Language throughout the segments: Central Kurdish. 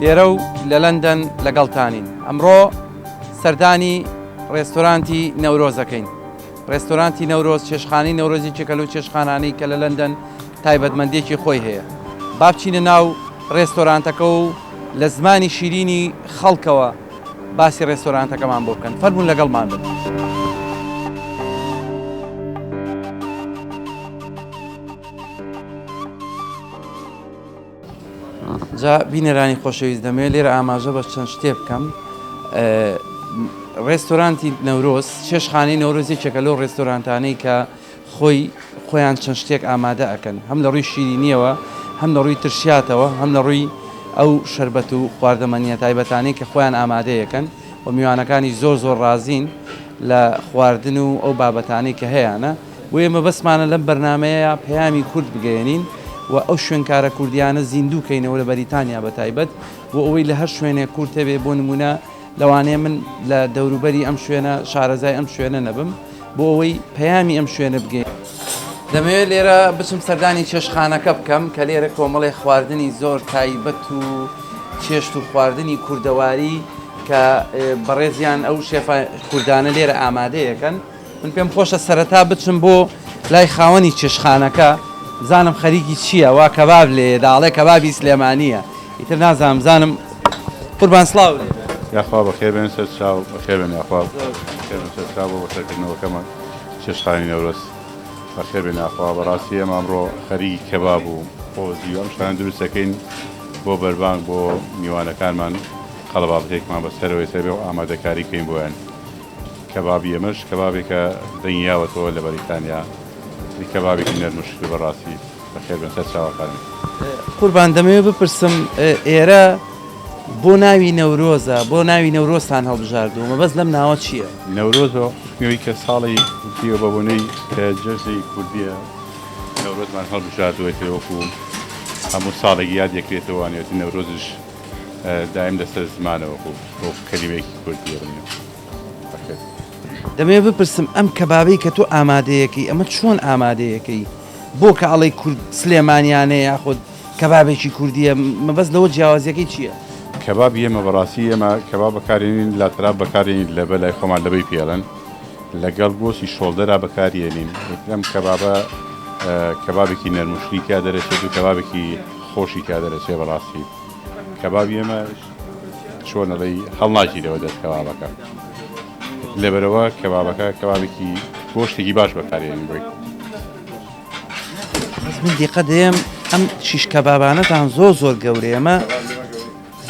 لێرە و لە لەندەن لەگەڵتانین. ئەمڕۆ سەردانی ڕێستۆرانتی نەورۆز دەکەین. ڕێستۆرانتی نەورۆز، چێشتخانەی نەورۆز یەکێکە لەو چێشتخانانەی کە لە لەندەن تایبەتمەندییەکی خۆی هەیە. با بچینە ناو ڕێستۆرانتەکە و لە زمانی شیرینی خەڵکەوە باسی ڕێستۆرانتەکەمان بۆ بکەن. فەرموون لەگەڵمان بن. جا بینەرانی خۆشەویست دەمەوێت لێرە ئاماژە بە چەند شتێ بکەم ڕێستۆرانتی نەورۆز چێشخانەی نەورۆز یەکێکە لەو ڕێستۆرانتانەی کە خۆی خۆیان چەند شتێک ئامادە ئەەکەن هەم لە ڕووی شیرینیەوە هەم لە ڕووی ترشاتەوە هەم لە ڕووی ئەو شربەت و خواردەمەنیە تایبەتانەی کە خۆیان ئامادەیەکەن و میوانەکانی زۆر زۆر ڕازین لە خواردن و ئەو بابەتانەی کە هەیەە بۆیە مەبەستمانە لەم بەرنامەیەیا پەیامی کورد بگەیەنین و ئەو شوێنکارە کوردیانە زیندوو کەینەوە لە بەریتانیا بە تایبەت بۆ ئەوەی لە هەر شوێنێک کورد هەبێ بۆ نموونە لەوانەیە من لە دەوروبەری ئەم شوێنە شارەزای ئەم شوێنە نەبم بۆ ئەوەی پەیامی ئەم شوێنە بگەین. دەمەوێت لێرە بچم سەردانی چێشتخانەکە بکەم کە لێرە کۆمەڵێ خواردنی زۆر تایبەت و چێشت و خواردنی کوردەواری کە بەڕێزیان ئەو شێفە کوردانە لێرە ئامادەیەکەن من پێم خۆشە سەرەتا بچم بۆ لای خاوەنی چێشخانەکە بزانم خەریکی چییە وا کەباب لێیە داڵێ کەبابی سلێمانییە ئیتر نازانم بزانم قوربان سڵاو لێ بێ. یاخوا بەخێر بێن سەر چاو بەخێر بێن یاخوا بەخێر بێن سەر چاو بۆ بەسەرکردنەوەکەمان چێشتخانەی نەورۆز بەخێر بێن یاخوا بەڕاستی ئێمە ئەمڕۆ خەریکی کەباب و قۆزی و ئەم شتانە دروست دەکەین بۆ بەربانگ بۆ میوانەکانمان قەڵەبابەتێکمان بەسەرەوەی سەر بێ و ئامادەکاری بکەین بۆیان کەبابی ئێمەش کەبابێکە دەنگی یاوەتەوە لە بەریتانیا ی کەبابێکی نەرم و شکە بەڕاستی بەخێر بێن سەر چاوەکانت. قوربان دەمەوێ بپرسم ئێرە بۆ ناوی نەورۆزە بۆ ناوی نەورۆزتان هەڵبژاردووە مەبەست لەم ناوە چییە؟ نەورۆز بە حوکمی ئەوەی کە ساڵی کوردییە بە بۆنەی کە جەژنی کوردییە نەورۆزمان هەڵبژاردووەتێ وەکوو هەموو ساڵێک یادێکرێتەوە وانەوێتن نەورۆزیش دایم لەسەر زمانەوە بوو وەکو کەلیمەیەکی کورد یەبنێ بەخێر. دەمەوێت بپرسم ئەم کەبابەی کە تۆ ئامادەیەکەی ئەمە چۆن ئامادەیەکەی؟ بۆ کە ئەڵێی کورد سلێمانیانەیە یاخود کەبابێکی کوردیە مەبەست لەوە جیاوازیەکەی چییە؟ کەباب ئێمە بەڕاستی ئێمە کەباب بەکارێنین لە تراب بەکارێنین لە بە لای خۆمان لەبەی پێڵن لەگەڵ گۆسی شۆڵدەرا بەکارێنین ئەم کەبابە کەبابێکی نەرموشلی تیا دەرەێت و کەبابێکی خۆشی تیا دەرەچێ بەڕاستی کەبابی ئێمە چۆن ئەڵێی هەڵناگیرەوە دەست کەبابەکە لەبەرەوە کەبابەکە کەبابێکی گۆشتێکی باش بەکارێنی بێت بەس من دیقە دێم ئەم شیش کەبابانەتان زۆر زۆر گەورەیە ئەمە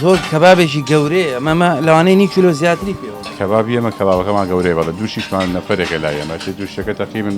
زۆر کەبابێکی گەورەیە ئەمەمە لەوانەی نی کیلۆ زیاتری پێوە کەبابی ئێمە کەبابەکەمان گەورەیە بەڵە دوو شیشمان نەفرێکە لای ئێمە چ دوو شتەکە تەقریبن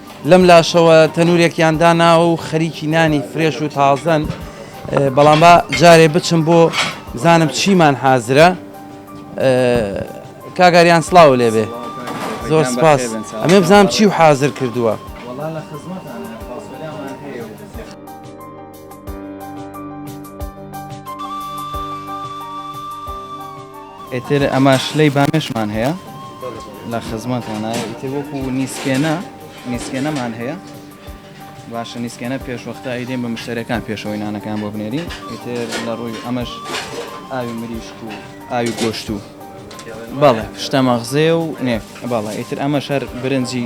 لەم لاشەوە تەنورێکیان داناوە و خەریکی نانی فرێش و تازەن بەڵام با جارێ بچم بۆ بزانم چیمان حازرە کاگاریان سلااو لێبێ زۆر سپاس ئەمێ بزانام چی و حازر کردووە. ئیتر ئەمە شلەی بامێشمان هەیە لە خزمەتانە ئیتر وەکو نیسکێنە نیسکێنەمان هەیە باشە نیسکێنە پێشوەختە ئەیدێن بە مشتەرەکان پێشەوەی نانەکان بۆ بنێری ئیتر لە ڕووی ئەمەش ئاوی مریشک و ئاوی گۆشت و بەڵێ شتە مەغزێ و نێف بەڵێ ئیتر ئەمە شەر برنجی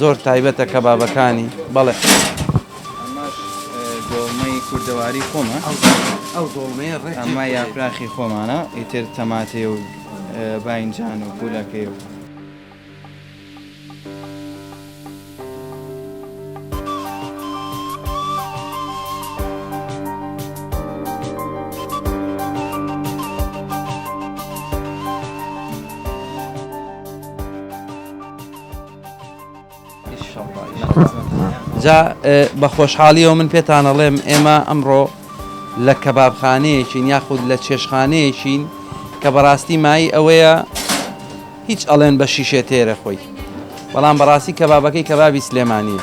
زۆر تایبەتە کەبابەکانی بەڵێ ئەمەش دۆڵمەی کوردەواری خۆمە ئەو دۆڵمەیە ڕێ ئەمە یاپراخی خۆمانە ئیتر تەماتێ و باینجان و پولەکەی و جا بە خۆشحاڵیەوە من پێتانەڵێم ئێمە ئەمڕۆ لە کەبابخانەیەکین یاخود لە چێشخانەیەکین کە بەڕاستی مای ئەوەیە هیچ ئەڵێن بە شیشێ تێرە خۆی بەڵام بەڕاستی کەبابەکەی کەبابی سلێمانیە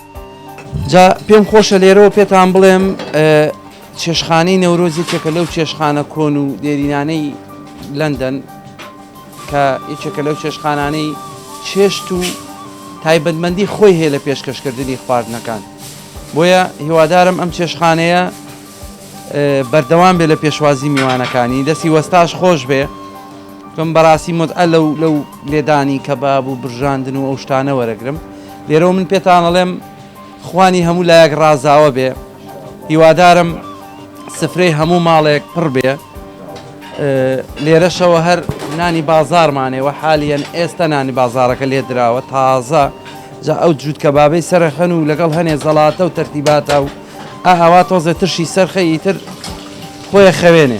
جا پێم خۆشە لێرەوە پێتان بڵێم چێشخانەی نەورۆز یەکێکە لەو چێشخانە کۆن و دێرینانەی لەندەن کە یەکێکە لەو چێشخانانەی چێشت و تایبەتمەندی خۆی هەیە لە پێشکەشکردنی خواردنەکان بۆیە هیوادارم ئەم چێشخانەیە بەردەوام بێ لە پێشوازی میوانەکانی دەستی وەستاش خۆش بێ من بەڕاستی متعە لەو لەو لێدانی کەباب و برژاندن و ئەو شتانە وەرەگرم لێرەوە من پێتانەڵێم خوانی هەموو لایەک ڕازاوە بێ هیوادارم سفرەی هەموو ماڵێک پڕ بێ لێرەشەوە هەر نانی بازارمانەوە حالیان ئێستا نانی بازارەکە لێ دراوە تازە جا ئەو جووت کە بابەی سەرخەن و لەگەڵ هەنێ زەڵاتە و تەرتیباتە و ئاوا تۆزێ ترشی سەرخە ئیتر خۆیە خەوێنێ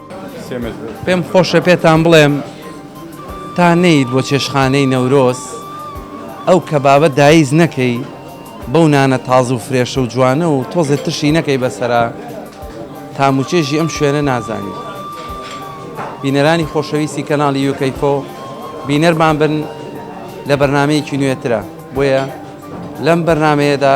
پێم خۆشە پێتان بڵێم تا نەیت بۆ چێشخانەی نەورۆز ئەو کەبابە دایز نەکەی بەو نانە تازە و فرێشە و جوانە و تۆزێ ترشی نەکەی بەسرە تاموچێژی ئەم شوێنە نازانی بینەرانی خۆشەویستی کەناڵی یوکەیفۆ بینەرمان بن لە بەرنمەیەکی نوێترە بۆیە لەم بەرنمەیەدا